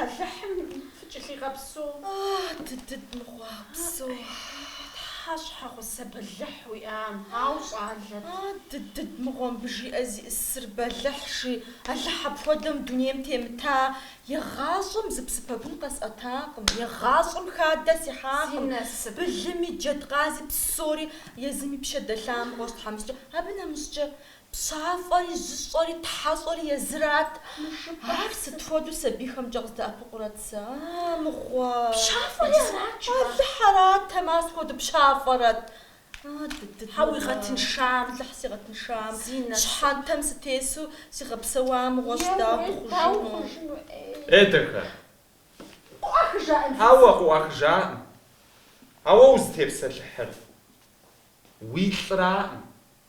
Алыхьым фыкӏылъигъэпсэу. Ӏэхь, дыдыд мыгъуэ псо! Тхьэ щхьэгъусэ бэлыхь уиӏам, ауэ щӏалэт. Ӏэ, дыдыд мыгъуэ мыбы жиӏэ зиӏысыр бэлыхь жи, Алыхь апхуэдэм дунейм темыта, егъащӏэм зы псы пэгун къэсӏэтакъым, егъащӏэм хадэ сихьакъым, былыми, джэдкъази псори езым и пщэ дэлъа мыгъуэщ тхьэмыщкӏэ, абы нэмыщӏкӏэ Пщафӏэри, жьыщӏэри, тхьэщӏэри езырат. Ар сыт хуэдэу сабийхэмкӏэ къыздэӏэпыкъурэт сэ, а, мыгъуэ? Пщафӏэри арат, жыпӏа? Алыхь аратэм, ар сыт хуэдэу пщафӏэрэт? Хьэ, уигъэтыншам, Алыхь сигъэтыншам, щхьэнтэм сытесу сигъэпсэуа мыгъуэщ, дауэ хъужыну? Е, дахэ. Къыӏуахыжаӏым фи цӏэр. Хьэуэ, къыӏуахыжаӏым. Ауэ узытепсэлъыхьыр уи лӏраӏым.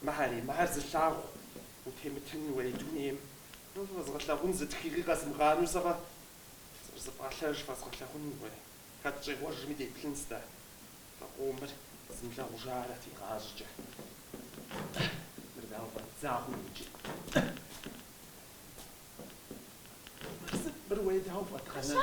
Мыхьэри, мыхьэр зылъагъу, утемытын уей дунейм, фэзгъэлъагъун зы тхыгъи къэзмыгъанэу сэгъэ, сыбзыфӏалъэж фэзгъэлъагъун уэ, хэт щӏегъуэжми деплъынщ-тӏэ, фэ къомыр зымылъагъужарэт игъащӏэкӏэ. Мыр дауэ фӏэддзагъэм иджы? Мыр сыт, мыр уей дауэ фӏэдгъэнэну?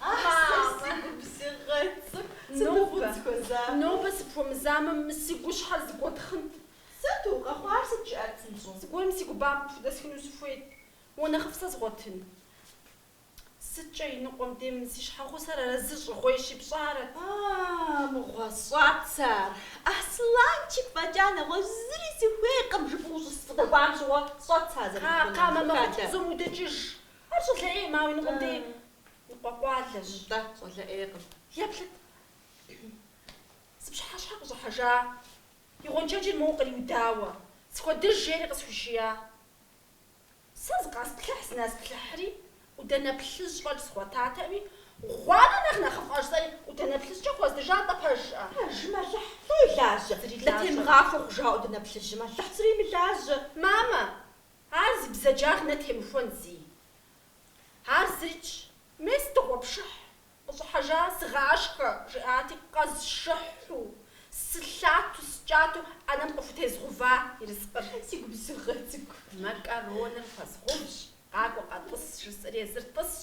Ахьсэ, си губзыгъэ цӏыкӏу, сыт уигу зыхуэзакъуэр? Нобэ сыпхуэмызамэ, мы си гущхьэр зэгуэтхъынт. Сыт къэхъуар, сыт? Жыӏэт псынщӏэу? Зыгуэрым си гу бампӏэ худэсхыну сыхуейт, уэ нэхъыфӏ сэ згъуэтын. Сыткӏэ иныкъуэм дем си щхьэгъусэр арэзы щӏыгъуейщи, пщӏарэт. Аааа, мыгъуэ, сщӏэт сэ ар. Аслъанчик фӏэкӏа нэгъуэщӏ зыри сыхуейкъым жыпӏэу ущысфӏыдэкӏуам щыгъуэ сщӏэт сэ ар зэрыхъунур. Кхъэ, кхъэ, мамэ къут пцӏум удэкӏыж, Ар щӏалэ ӏей, моуэ иныкъуэм дей ныкъуэкъуалэщ. Нтӏэ, щӏалэ ӏейкъым. Еплъыт. Зы пщыхьэщхьэ къыщӏыхьэжа, и гъуэншэджыр моуэ къриудауэ, схуэдыж жери къысхуишия. Сэ зыкъэсплъыхь зынэсплъыхьри, ӏудэнэ плъыжь фӏэкӏ згъуэтатэӏыми, гъуанэ нэхъ нэхъыфӏщ жысӏэри ӏудэнэ плъыжькӏэ хуэздыжа нтӏэ пэжщӏэ. Пэжым Алыхь фӏы илажьэ, нтӏэ темыгъахуэ хъужа ӏудэнэ плъыжьым Алыхь зыри имылажьэ. Мамэ, Ар зи бзаджагъ нэ темыхуэн зи. Ар зыщ. Мес дыгъуэпшыхь къыщӏыхьэжа сыгъашхэ, жиӏати, къэзжыхьу, сылъату, сыкӏату ӏэнэм къыхутезгъува ерыскъыр. Си губзыгъэ цӏыкӏу макароныр хуэзгъэувщ, къакӏуэ къэтӏыс, жысӏэри езыр тӏысщ,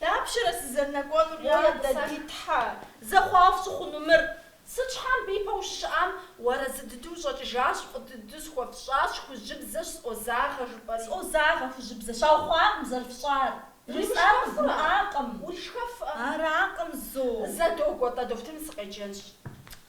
Дапщэрэ сызэрынэкӏуэнур, я дэ ди Тхьэ? Зэхъуафӏ сыхъуну мыр? Сыт щхьэм бий пэ ущыщыӏам? Уарэзы дыдэу ущӏэкӏыжащ, фӏы дыдэу схуэфщӏащ, хужьыбзэщ, сӏозагъэ, жыпӏэри. Сӏозагъэ, хужьыбзэ, щаухъуакъым зэрыфщӏар. Жысӏакъым, змыӏакъым. Уришхэфӏэ. Аракъым, зо. Зэ догуэ-тӏэ, дохутырым сыкъеджэнщ.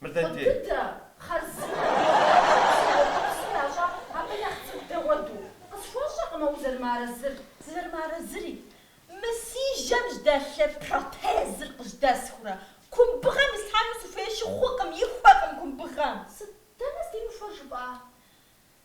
Къыбдыдэ, хъарзынэ, зыгъэпсэхупсыр ящӏар абы нэхъ цӏыкӏу дэгъуэду. Къысхуэщӏэкъымэ узэрымыарэзыр. Сызэрымыарэзыри. Мы си жьэм жьдэлъ протезыр къыжьдэсхурэ, кумбыгъэм ислъхьэну сыхуейщи хъукъым, ихуэкъым кумбыгъэм. Сыт? Дэнэ здимыхуэр жыпӏа?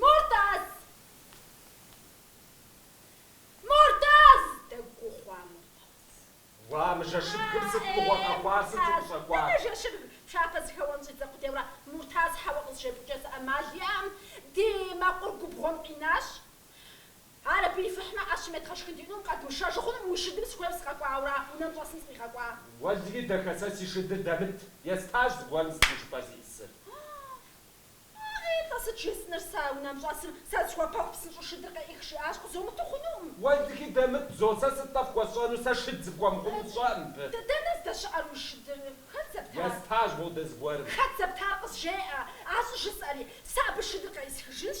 Муртаз! Муртаз! Дэгу хъуа Муртаз. Уа, мы жэщыбгым сыт мыгъуэ къэхъуар, сыт ущӏэкӏуар? Дэнэ жэщыбг? Пшапэ зыхэуэн щӏидзэ къудейура. Муртаз, хьэуэ къызжепӏыкӏэ зы ӏэмал иӏэм, ди мэкъур губгъуэм къинащ. Ар абы ифыхьмэ, ӏэщым едгъэшхын диӏэнум, къэдмышэжу хъунум, уи шыдым сыхуейри сыкъэкӏуауэра, унэм щӏэсым сыкъигъэкӏуа. Уэлри дахэ сэ си шыдыр дэмыт, естащ зыгуэрым. Сыт жыпӏэ зищӏысыр? Тӏэ, сыт жесӏэныр сэ, унэм щӏэсым, сэ зысхуэпэху псынщӏэу шыдыр къеӏых жиӏащ, къызомыту хъунум. Уэлри дэмыт, зо, сэ сыт-тӏэ фхуэсщӏэну, сэ шыд сыпхуэмыхъуну сщӏэ мыбы. Дэнэ здэщыӏэр уи шыдыр? Хэт зэптар? Естащ модэ зыгуэрым. Хэт зэптар, къызжеӏэ, ар щӏыжысӏэри, сэ абы шыдыр къеӏысхыжынщ,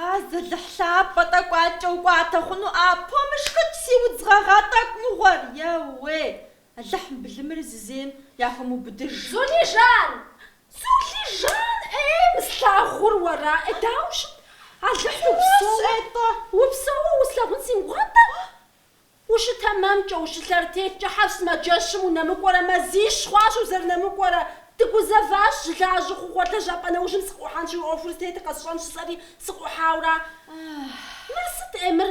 А зы Алыхь лъапӏэ тӏэкӏу адкӏэ укӏуатэ хъуну а пумышхыкӏ си удз гъэгъа тӏэкӏу мыгъуэр, еуей, Алыхь мы былымыр зызейм яхуэмыубыдыж. Зулижан! Зулижан! Ей, мы слъагъур уэра? Ей, дауэ щыт? Алыхь Светэ, упсэууэ услъагъун си мыгугъатэ! Ущытэмэмкӏэ, ущылъэрытеткӏэ хъер, сымаджэщым унэмыкӏуэрэ, мазищ хъуащ узэрынэмыкӏуэрэ. Дыгузэващ, щылажьэу хъуар, лэжьапӏэ нэужьым сыкъыӏухьэнщи, уи ӏуэхур зытетыр къэсщӏэн жысӏэри, сыкъыӏухьаура. Мыр сыт, ӏей, мыр?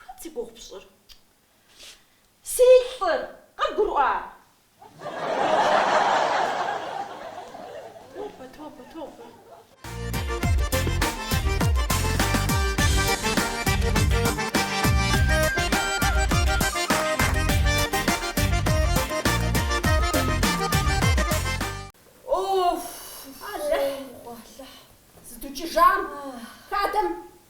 Хэт зи гугъу пщӏыр? Си лӏыр, къыбгурыӏуа? Тобэ, тобэ, тобэ. Алыхь! Алыхь! Зыдукӏыжам хадэм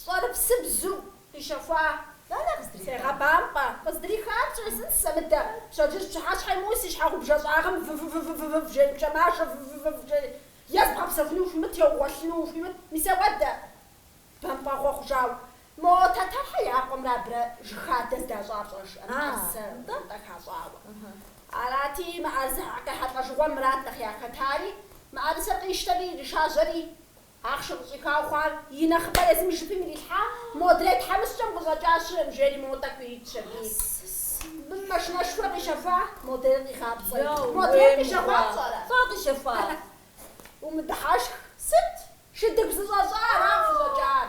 Щӏэрыпсыбзу къищэхуа Сегъэбампӏэ, къыздрихар пщӏезынт сэ мыдэ, пщэдджыжь пщыхьэщхьэ имыӏэу си щхьэгъубжэ щӏагъым вв-вв-вв-вв-вв жеи, пкӏэуэ мажэ вв-вв-вв-вв-вв жеи, е зыбгъэпсэхуну ухуимыт, е угъуэлъыну ухуимыт, мис апхуэдэ. Бампӏэгъуэ хъужауэ, мо Тэтэрхьэ я къуэмрэ абырэ жыг хадэ зэдащӏар пщӏэжрэ, мыӏэрысэ тӏэкӏу хащӏауэ. Арати, мыӏэрысэ къехьэлӏэжыгъуэм Мурат нэхъ яхэтари, мыӏэрысэр къищтэри, иришажьэри, Ахъшэ къыщӏихауэ хъуар и нэхъыбэр езым жыпым ирилъхьа модрей тхьэмыщкӏэм къыщӏэкӏа щыӏэкъым жери мо тӏэкӏур иритщ абыи. Бын машинэшхуэр къищэфа, модрейр къигъапцӏэри, модрейр къищэхуа пщӏэрэ? Фэ къищэфащ. Умыдыхьэшх сыт? Шыдыгу зэщӏэщӏа аращ къыщӏэкӏар.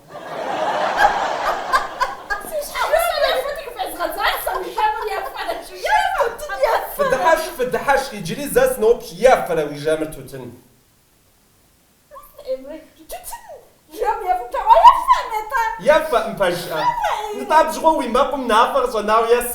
Фыдыхьэшх, фыдыхьэшх, иджыри зэ сыноупщӏ, ефэрэ уи жэмыр тутын? Ефэкъым, пэжщ, нтӏэ абы щыгъуэ уи мэкъум мафӏэ къыщӏэнауэ ес.